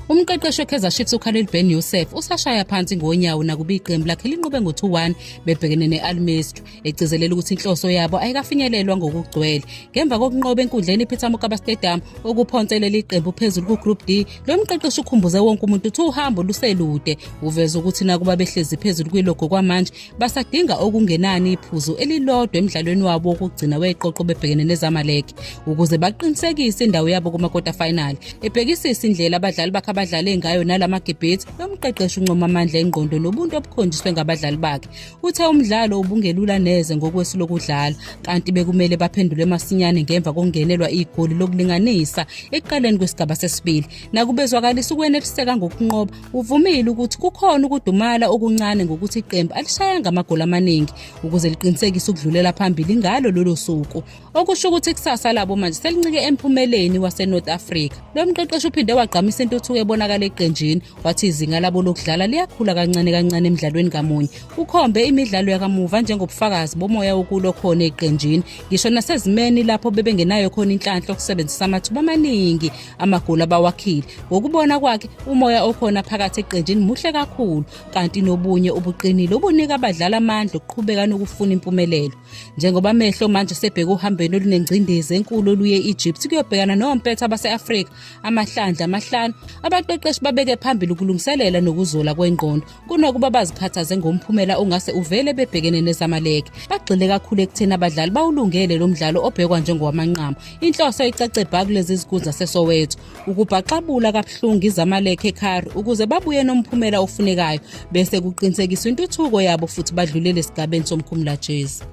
Umqeqeshi weKaizer Chiefs uKhalil Ben Youssef usashaya phansi ngonyawo nakuba iqembu lakhe linqobe ngo-2-1 bebhekene ne-Al Masry egcizelela ukuthi inhloso yabo ayikafinyelelwa ngokugcwele ngemva kokunqoba enkundleni iPeter Mokaba Stadium okuphonse leli qembu phezulu kuGroup D lo mqeqeshi ukhumbuze wonke umuntu ukuthi uhambo luselude uveze ukuthi nakuba behlezi phezulu kwilogo kwamanje basadinga okungenani iphuzu elilodwa emdlalweni wabo wokugcina weqoqo bebhekene nezamalek ukuze baqinisekise indawo yabo kumakota final ebhekisisa indlela abadlali bakhe abadlale ngayo nalamagebhethi lomqeqeshi uncoma amandla engqondo nobuntu obukhonjiswe ngabadlali bakhe uthe umdlalo ubungelula neze ngokwesu lokudlala kanti bekumele baphendule masinyane ngemva kokungenelwa igoli lokulinganisa ekuqaleni kwesigaba sesibili nakubezwakalisa ukwenephiseka ngokunqoba Uvumile ukuthi kukhona ukudumala okuncane ngokuthi iqembu alishayanga amagoli amaningi ukuze liqinisekise ukudlulela phambili ngalo lolo suku okusho ukuthi ikusasa labo manje selincike emphumeleni waseNorth Africa lo mqeqeshi uphinde wagqamisa intuthuko ebonakala eqenjini wathi izinga labo lokudlala liyakhula kancane kancane emdlalweni kamunye ukhombe imidlalo yakamuva njengobufakazi bomoya wokulo khona eqenjini ngisho nasezimeni lapho bebengenayo khona inhlanhla okusebenzisa amathuba amaningi amagoli abawakhile ngokubona kwakhe umoya okhona phakathi eqenjini muhle kakhulu kanti nobunye ubuqinile obunika abadlali amandla okuqhubeka nokufuna impumelelo njengoba amehlo manje sebheke uhambeni olunengcindezi enkulu oluye egypt kuyobhekana nompetha base-afrika amahlandla amahlanu abaqeqeshi babeke phambili ukulungiselela nokuzola kwengqondo kunokuba bazikhathaze ngomphumela ongase uvele bebhekene nezamaleke bagxile kakhulu ekutheni abadlali bawulungele lo mdlalo obhekwa njengowamanqamu inhloso icace bha kulezi zikhulu zasesoweto ukubhaxabula kabuhlungu izamaleke ekhari ukuze babuye nomphumela ofunekayo bese kuqinisekiswa intuthuko yabo futhi badlulele esigabeni somkhumulajezi